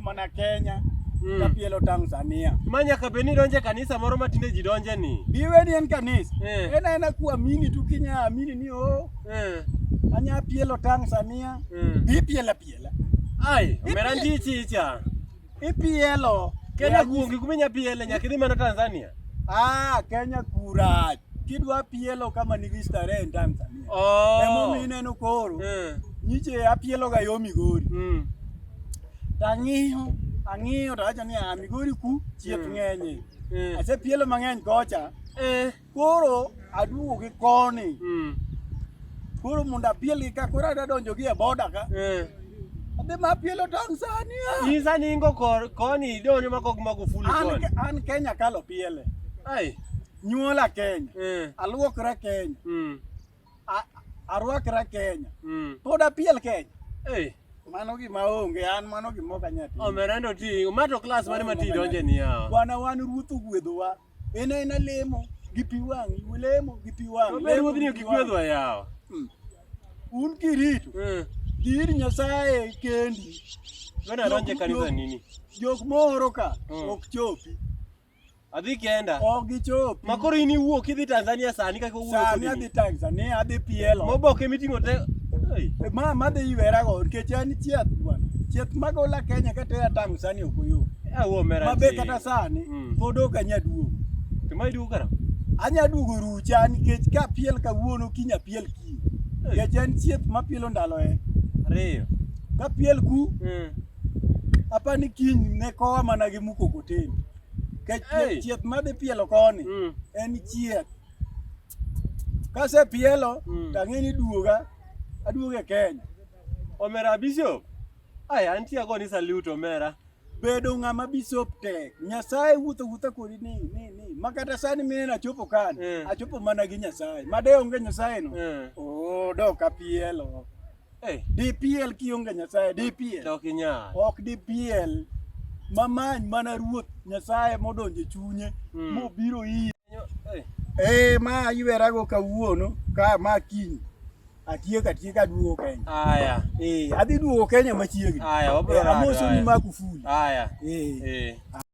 Mana Kenya mm. kapielo Tanzania. Ma nyaka bed ni donje kanisa moro ma tinde ji donje ni. Biwe ni en kanisa. Eh. Ena ena kuamini tu kinya amini ni o. Oh. Eh. Anya pielo Tanzania. Mm. Bi piela piela. Ai, omera ndichi icha. Ipielo. Kenya kuongi kuminya piele nyaka idhi mana Tanzania. Ah, Kenya kura. Kidwa pielo kama nigi starehe en Tanzania. Oh. Emo mineno koro. Mm. Nyiche apielo ga yo Migori. Mm. Tang'iyo, ang'iyo to awacho niya, Migori ku chieth ng'enye. Eh. Asepielo mang'eny kocha. Eh. Koro aduogo gi koni. Mm. Koro mondo apielgi ka koro adadonjo gi e boda ka. Eh. Adhi ma apielo Tanzania. Isa ningo kor koni idonjo ma kok mako full koni. An Kenya kalo piele. Ai. Nyuola Kenya. Eh. Aluokra Kenya. Mm. arwakra Kenya mm. pod apiel Kenya hey. Mano gima onge an mano gima ok anyal timo. Omerendo ti, umato class mane ma ti donje ni yawa. Bwana wan ruoth ogwedhowa. En en lemo gi pi wang, lemo gi pi wang. Obe ruoth ni ok gwedhowa yawa. Hmm. Un kirito. Hmm. Dir Nyasaye kendi. Bwana donje kanisa nini? Jok mohoro ka hmm. ok chopi. Adhi kenda. Ok gichopi. Ma koro in iwuok idhi Tanzania sani kaka owuok. Sani adhi Tanzania, adhi pielo. Moboke miting'o te. Ma ma dhi iwera go nikech an chiath bwana. Chiath magola Kenya kata ya Tanzania ok oyo. Awo eh, mera. Mabe kata sani mm. pod ok anya duogo. To ma iduogo kara? Anya duogo rucha nikech ka piel kawuono kinya piel kiny. Nikech en chiath ma pielo ndalo e. Ariyo. Ka piel ku. Mm. apani kiny ne kowa mana gi mukokoteni kech hey. chieth madhi pielo koni mm. en chieth kase pielo mm. tang'eni duoga aduoga e Kenya omera bishop aya antie ago ni salute omera bedo ng'ama bishop tek nyasaye wuotho wuotha kodi ni ni ni makata sani mineno achopo kan yeah. achopo mana gi nyasaye made onge nyasaye no yeah. oh, dok apielo Hey. DPL kionge Nyasaye, DPL. Tok inyal. Ok DPL. Mamany mana ruoth Nyasaye modonje chunye mm. mobiro iyi. Hey. Eh ma aywerago kawuono ka ma kiny. Atiek atiek aduogo Kenya. Aya. Eh, adhi duogo Kenya machiegni. Aya, wabro. Eh, amoso ni Magufuli. Aya. Eh. Eh.